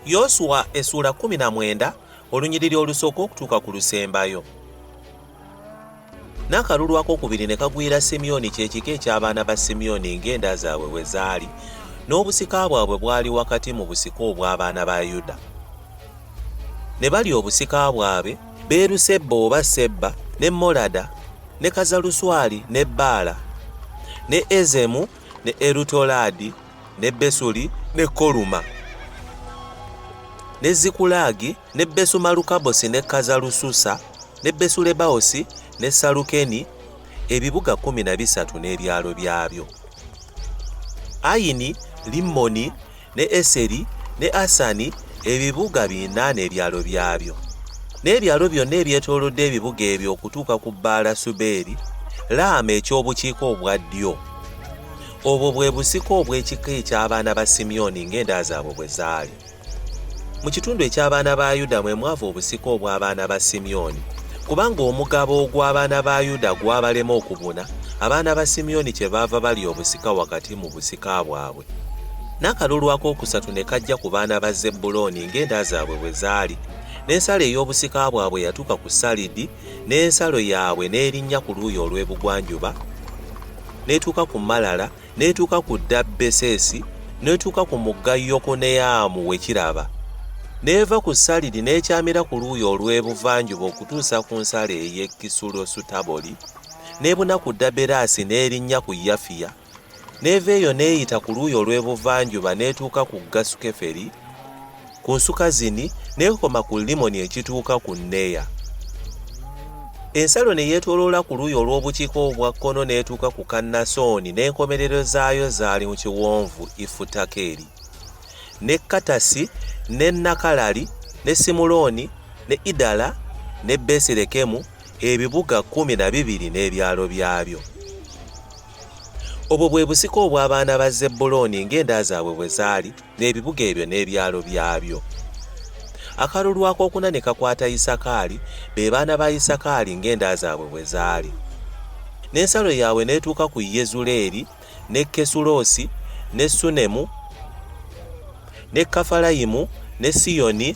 yoswa essuula 19 olunyiriri olusooka okutuuka ku lusembayo n'akalulu akokubiri ne kagwira simyoni kyekika eky'abaana ba simyoni ng'enda zaabwe bwe zaali n'obusika bwabwe bwali wakati mu busika obw'abaana ba yuda ne balya obusika bwabwe Beerusebba oba Sebba ne Molada ne Kazaluswali ne Baala ne Ezemu ne Erutolaadi ne Besuli ne Koluma ne Zikulaagi ne Besumalukabosi ne Kazalususa ne Besulebaosi ne Salukeni ebibuga kkumi na bisatu n'ebyalo byabyo. Ayini, Limmoni ne Eseri, ne Asani, ebibuga bina n'ebyalo byabyo, n'ebyalo byonna ebyetoolodde ebibuga ebyo okutuuka ku Baala Subeeri, Laama eky'obukiika obwa ddyo. Obwo bwe busika obw'ekika eky'abaana ba Simyoni ng'enda zaabwe bwe zaali. Mu kitundu eky'abaana ba Yuda mwe mwava obusika obw'abaana ba Simyoni, kubanga omugabo ogw'abaana ba Yuda gwabalema okubuna, abaana ba Simyoni kyebaava balya obusika wakati mu busika bwabwe. N'akalulu akookusatu ne kajja ku baana ba Zebbulooni ng'enda zaabwe bwe zaali, n'ensalo ey'obusika bwabwe yatuuka ku Salidi, n'ensalo yaabwe n'erinnya ku luuyi olw'ebugwanjuba, n'etuuka ku Malala, n'etuuka ku Dabbesesi, n'etuuka ku mugga Yokuneyaamu we kiraba, n'eva ku Salidi n'ekyamira ku luuyi olw'ebuvanjuba okutuusa ku nsalo ey'e Kisulosutaboli, n'ebuna ku Daberasi n'erinnya ku Yafiya. N'eva eyo n'eyita ku luuyi olw'ebuvanjuba n'etuuka ku Gasu-Keferi, ku nsuka zini, n'ekoma ku Limmoni ekituuka ku Neya. Ensalo ne yeetooloola ku luuyi olw'obukiika obwa kkono n'etuuka ku Kannasooni n'enkomerero zaayo zaali mu kiwonvu Ifutakeri. Ne Katasi, ne Nakalali, ne Simuloni, ne Idala, ne Besirekemu, ebibuga kkumi na bibiri n'ebyalo byabyo. Obwo bwe busika obw'abaana ba Zebbulooni ng'enda zaabwe bwe zaali, n'ebibuga ebyo n'ebyalo byabyo. Akalulu ak'okuna ne kakwata Isakaali, be baana ba Isakaali ng'enda zaabwe bwe zaali. N'ensalo yaabwe n'etuuka ku Yezuleeri, ne Kesuloosi, ne Sunemu, ne Kafalayimu, ne Siyoni,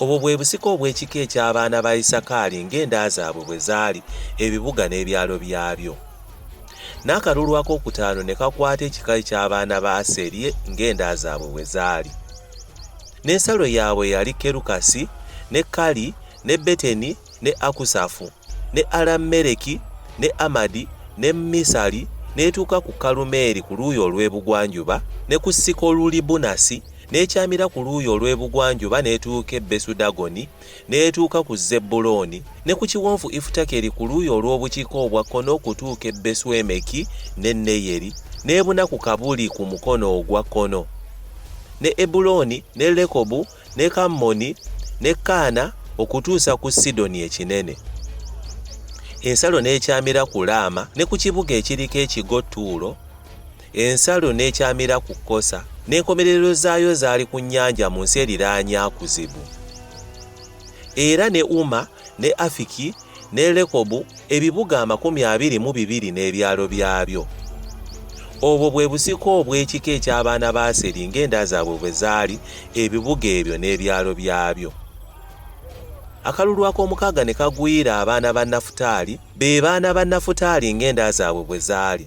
Obwo bwe busika obw'ekika eky'abaana ba Isakaali ng'enda zaabwe bwe zaali, ebibuga n'ebyalo byabyo. N'akalulu ak'okutaano ne kakwata ekika eky'abaana ba Aseri ng'enda zaabwe bwe zaali. N'ensalo yaabwe yali Kerukasi, ne Kali, ne Beteni, ne Akusafu. ne Alameleki ne Amadi ne Misali n'etuuka ku Kalumeeri ku luuyi olw'ebugwanjuba ne ku Sikolulibunasi n'ekyamira ku luuyi olw'ebugwanjuba n'etuuka e Besudagoni n'etuuka ku Zebbulooni ne ku kiwonvu Ifutakeri ku luuyi olw'obukiika obwa kkono okutuuka e Beswemeki ne Neyeri n'ebuna ku Kabuli ku mukono ogwa kkono ne Ebulooni ne Lekobu ne Kammoni ne Kaana okutuusa ku Sidoni ekinene. Ensalo n'ekyamira ku Laama ne ku kibuga ekiriko ekigo Tuulo, ensalo n'ekyamira ku Kosa, n'enkomerero zaayo zaali ku nnyanja mu nsi eriraanye Akuzibu. Era ne Uma ne Afiki, ne Lekobu, ebibuga amakumi abiri mu bibiri n'ebyalo byabyo. Obwo bwe busika obw'ekika eky'abaana ba Aseri ng'enda zaabwe bwe zaali, ebibuga ebyo n'ebyalo byabyo. Akalulu ak'omukaaga ne kagwira abaana ba Nafutaali, be baana ba Nafutaali ng'enda zaabwe bwe zaali.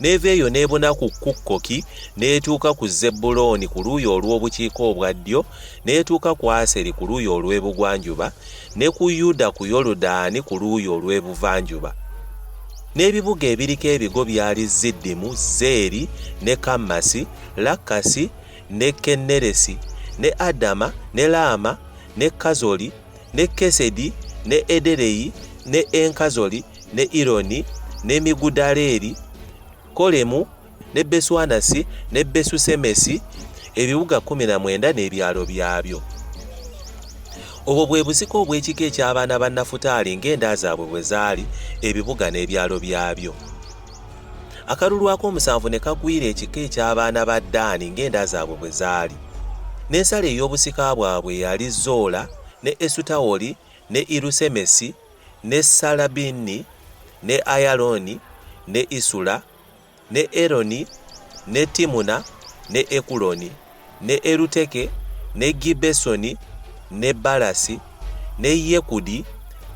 n'eva eyo n'ebuna ku kukkoki n'etuuka ku zebbulooni ku luuyi olw'obukiika obwa ddyo n'etuuka ku aseri ku luuyi olw'ebugwanjuba ne ku yuda ku yoludaani ku luuyi olw'ebuvanjuba n'ebibuga ebiriko ebigo byali ziddimu zeeri ne kammasi lakkasi ne kenneresi ne adama ne laama ne kazoli ne Kesedi, ne Edereyi, ne Enkazoli, ne Ironi, ne Migudaleri, Kolemu, ne Beswanasi, ne Besusemesi, ebibuga kkumi na mwenda n'ebyalo byabyo. Obwo bwe busika obw'ekika eky'abaana ba Nafutaali ng'enda zaabwe bwe zaali, ebibuga n'ebyalo byabyo. akalulu ak'omusanvu ne kagwira ekika eky'abaana ba daani ng'enda zaabwe bwe zaali n'ensala ey'obusika bwabwe yali zoola ne esutawoli ne irusemesi ne salabini ne ayalooni ne isula ne eroni ne timuna ne ekuloni ne Eruteke, ne Gibbesoni, ne Balasi, ne Yekudi,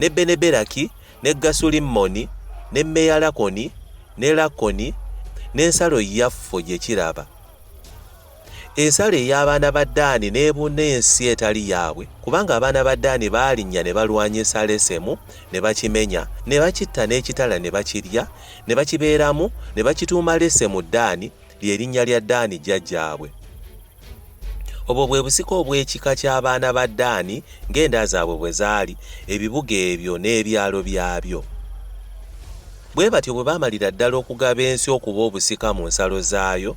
ne Beneberaki, ne Gasulimmoni, ne Meyalakoni, ne Lakoni, n'ensalo yaffe gye kiraba. Ensalo ey'abaana ba Daani n'ebuna ensi etali yaabwe, kubanga abaana ba Daani baalinnya ne balwanyisa Lesemu, ne bakimenya, ne bakitta n'ekitala ne bakirya, ne bakibeeramu, ne bakituuma Lesemu Daani, lye linnya lya Daani jjajjaabwe. Obwo bwe busika obw'ekika ky'abaana ba Daani ng'enda zaabwe bwe zaali, ebibuga ebyo n'ebyalo byabyo. Bwe batyo bwe baamalira ddala okugaba ensi okuba obusika mu nsalo zaayo,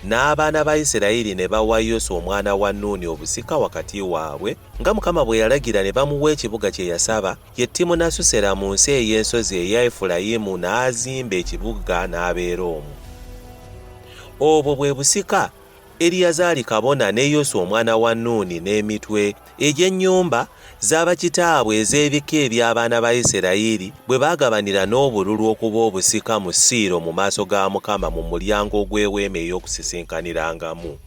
n'abaana ba Isirayiri ne bawa Yoswa omwana wa Nuuni obusika wakati waabwe, nga Mukama bwe yalagira, ne bamuwa ekibuga kye yasaba, Ye Timunasusera mu nsi ey'ensozi eya Efulayimu n'azimba ekibuga n'abeera omwo. Obwo bwe busika Eriyazaali kabona ne Yoswa omwana wa Nuuni n'emitwe egy'ennyumba za bakitaabwe ez'ebika eby'abaana ba Isirayiri bwe baagabanira n'obululu okuba obusika mu Siiro mu maaso ga Mukama mu mulyango ogw'eweema ey'okusisinkanirangamu.